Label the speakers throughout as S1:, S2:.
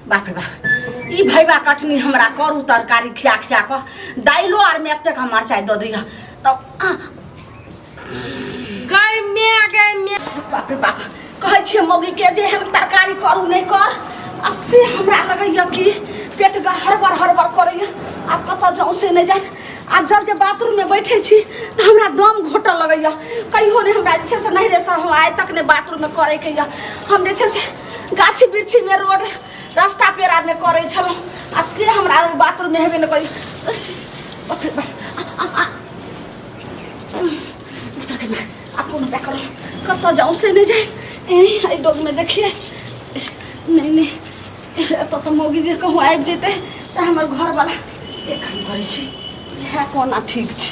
S1: बाप रे बाप ई भैबा कटनी हमरा करू तरकारी खिया खिया कऽ दालिलो आरमे एतेक हम मरचाइ दऽ दिअ तब आ,
S2: गई मैं गई मैं बाप रे बाप
S1: कहै छियै मौगीके जे एहन तरकारी करू नहि कर आ से हमरा लगैए कि पेट ग हड़बड़ हड़बड़ करैए आब कतऽ जाउँ से नहि जाए आ जब जे बाथरूममे बैठै छी तऽ हमरा दम घोटऽ लगैए कहियो नहि हमरा जे छै से नहिरेसँ हम आइ तक नहि बाथरूममे करैके यऽ हम जे छै से गाछी वृक्षी में रोड रास्ता पेरा में करे छलहुँ आ से हमरा आरो बाथरूम में हेबे ने करी बाप रे बाप। आ, आ, आ। बाप रे बाप। आब कोनो उपाय करू कतऽ जाऊँ से नहि जाए एहि डोग में देखिए नहि नहि एतऽ तऽ मौगी जे कहूँ आबि जेतै चाहे हमर घरवला एक काम करै छी इएह कोना ठीक छै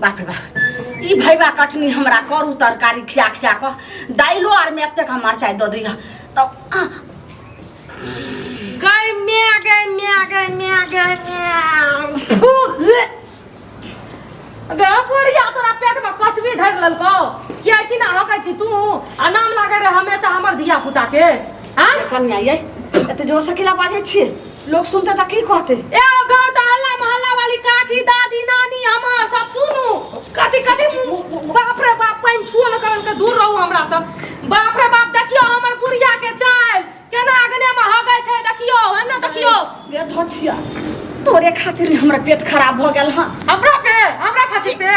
S1: बाप रे बाप ई भैबा कटनी हमरा करू तरकारी खिया खिया कऽ दालिलो आरमे एतेक हम मरचाइ दऽ दिअ तब आ, गई मैं
S2: गई मैं गई मैं गई मैं फू, हे। गे बुढ़िया तोरा पेट में कचबी धर ललको कि ऐसी ना होकै छी तू आ नाम लागे रे हमेशा हमर धिया पुता के हां कनिया यै
S1: एते जोरसँ किला बाजै छियै लोग सुनता त की कहते ए ओ गांव टहला
S2: मोहल्ला वाली काकी दादी नानी हमार सब सुनू कथी कथी मुंह- बाप रे बाप पाइन छुओ न करन के दूर रहू हमरा से बाप रे बाप देखियो हमर बुढ़िया के चाल केना अगने में हगै छै देखियो है ना देखियो गे धछिया
S1: तोरे खातिर हमरा पेट खराब भ गेल हन हमरा पे हमरा खातिर
S2: पे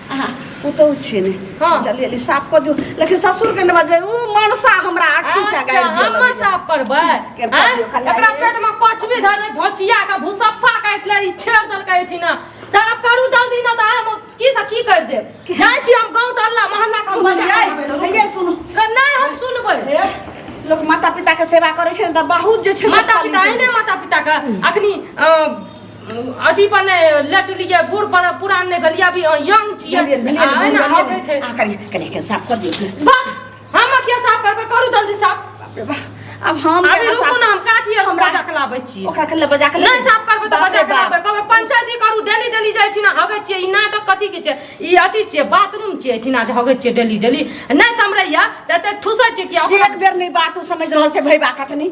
S2: अहाँ
S1: पुतहु छियै ने हँ। जल्दी जल्दी साफ कऽ दियौ लेकिन ससुरके ने बजबै ओ मनसा हमरा आठी से अच्छा गाड़ि दिअ हम लगैए। साफ करबै
S2: केर कऽ आँय? दियौ, खाली एकरा आइए। पेट में कचबी धर ले धोचिया के भूसप्पा काट ले ई छेड़ दल के एठी ना साफ करू जल्दी ना त हम की से की कर देब जाय छी हम गांव टल्ला महल्ला के हम बजा सुनलियै? देबै लोग। हैया सुनू क-
S1: नहि हम सुनबै
S2: हे, लोक माता
S1: पिताके सेवा करै छै ने तऽ बहुत जे छै से माता फल पिता मिलतै। एहने माता
S2: पिता के अखनी अ, अथी पर ने लट लिए बूढ़ पर पुरान ने भेलिए अभी यंग छिए आ ना हो गए छै आ कनी कनी के साफ कर
S1: दियो बस हम के
S2: साफ करबे करू जल्दी साफ अब हम
S1: अभी रुकू ना हम काटिए
S2: हम बजा के लाबै छी ओकरा के बजा के नहीं
S1: साफ करबे त बजा के
S2: लाबै कहबे पंचायती करू डेली डेली जाय छी ना हगे छी ई नाटक कथि के छै ई अथी छै बाथरूम छै ठिना जे हगे छी डेली डेली नहीं समरैया त ठुसै छी कि एक बेर नहीं बात समझ
S1: रहल छै भैबा कटनी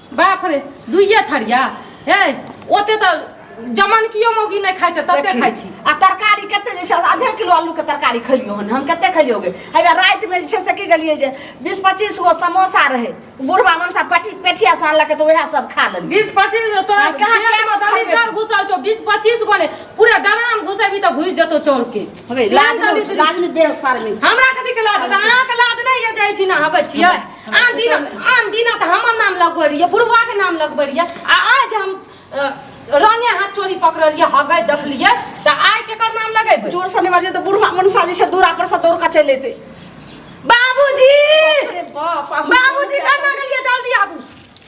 S1: बाप रे
S2: दुइये थरिया हे ओते तऽ जमन कियो मौगी नहि खाइ छै तते खाइ छी आ तरकारी कते
S1: जे छै आधे किलो आलू के तरकारी खेलियो हन हम कते खेलियो गे हेबे राति में जे छै से की गेलिए जे 20 25 गो समोसा रहे बुढ़वा मनसा पटी पेठिया से आनलक तो वएह सब खा लेली बीस पच्चीस गो तोरा कहाँ
S2: पेट में दलिदर घुसल छौ बीस पच्चीस गो ने पूरा डराम घुसेबी तऽ घुसि जेतौ चौर के लाज लाज
S1: में बेर सार में हमरा कथी के लाज
S2: अहाँ के लाज नहि ये जाइ छी ना हबै छियै आन दिन आन दिन तऽ हमर नाम लगबै रहियै बुढ़वाके नाम लगबै रहियै आ आज हम अ, रंगे हाथ चोरी पकड़लियै हगै देखलियै तऽ आइ केकर नाम लगेबै जोर से निवारियो तो बुढ़वा
S1: मनसा जी से दूरा पर से दौड़ के चले थे बाबूजी
S2: अरे
S1: बाप बाबूजी कहाँ
S2: गेलियै जल्दी आबू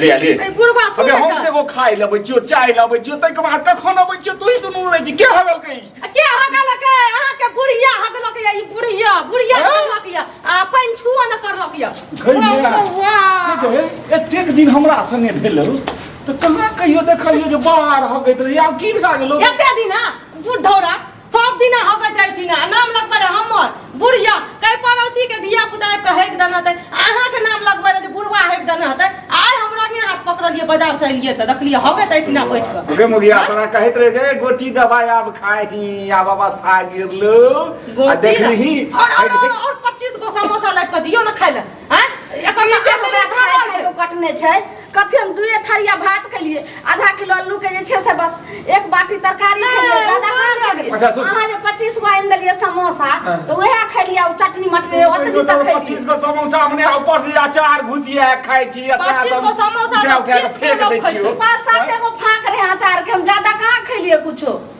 S1: ले आ, ले ए,
S3: बुढ़वा सुन अबे हम जा
S2: देखो खाए लबे
S3: जियो चाय लबे जियो तई के बाद कखन अबे जियो तू ही दुनू रह जी के हगल कई के हगलक
S2: अहाँ के बुढ़िया हगलक या ई बुढ़िया बुढ़िया हैं? हगलक या आपन छुआ न करलक या गइया। वाह
S3: एतेक दिन हमरा संगे भेल तो कहाँ कहियो देखलियो जे बाहर हो गई रही आब की भए गेलो एते दिन
S2: बुढ़ौरा सब दिना होके जाइ छी ना नाम लगबे रे हमर बुढ़िया कई पड़ोसी के धिया पुता आबि के हेक देना ते अहाँ के नाम लगबे रे जे बुढ़वा हेक देना ते आइ हमरा के हाथ पकड़लिए बाजार से एलिए ते देखलिए होके जाइ छी ना बैठ के ओके मुखिया हाँ? तोरा कहैत
S3: रहे जे गोटी दवाई आब खाही आब अवस्था गिरलो आ गोटी देखलही ना- और और और- और 25
S2: गो समोसा लाग के दियो ना खाइले हैं एकर ई जे हमरा खाय खाय के कटने छै
S1: कथी हम दुए थरिया भात खेलिए आधा किलो आलू के जे छै से बस एक बाटी तरकारी खेलिए ओ ज्यादा कहाँ बात खेलिए अच्छा, सुन। अहाँ जे 25 गो आनि देलिए समोसा हाँ। तो वएह खेलिए ओ चटनी मटनी ओतनी तो तक खेलिए पच्चीस गो समोसा हमने
S3: ऊपर से अचार घुसिया है, खाय छी अचार पच्चीस तो गो हम समोसा उठा
S2: उठा के तो फेंक तीस गो दै
S3: लोग छियो पाँच सात एगो फाँक
S1: रहे अचार के हम ज्यादा कहाँ खेलिए कुछो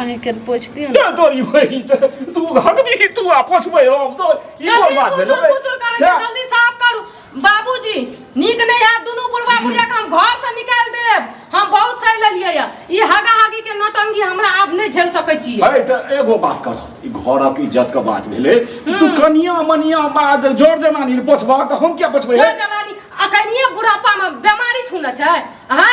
S1: अहीं के पोछ दियो ना तोरी भाई
S3: तू हक दी तू आ पोछबे हम तो ई कोन बात भेलो बे जल्दी साफ
S2: करू बाबूजी नीक नहीं है दोनों बुढ़वा बुढ़िया के हम घर से निकाल देब हम बहुत सही लेलिए या ई हगा हगी के नौटंगी हमरा आब नहीं झेल सके छी है त एगो बात
S3: कर ई घरक इज्जत के बात भेले तू हम्म। कनिया मनिया बाद जोर जनानी पोछबा त हम क्या पोछबे जोर जनानी अखनिए
S2: बुढ़ापा में बीमारी छूना छै हां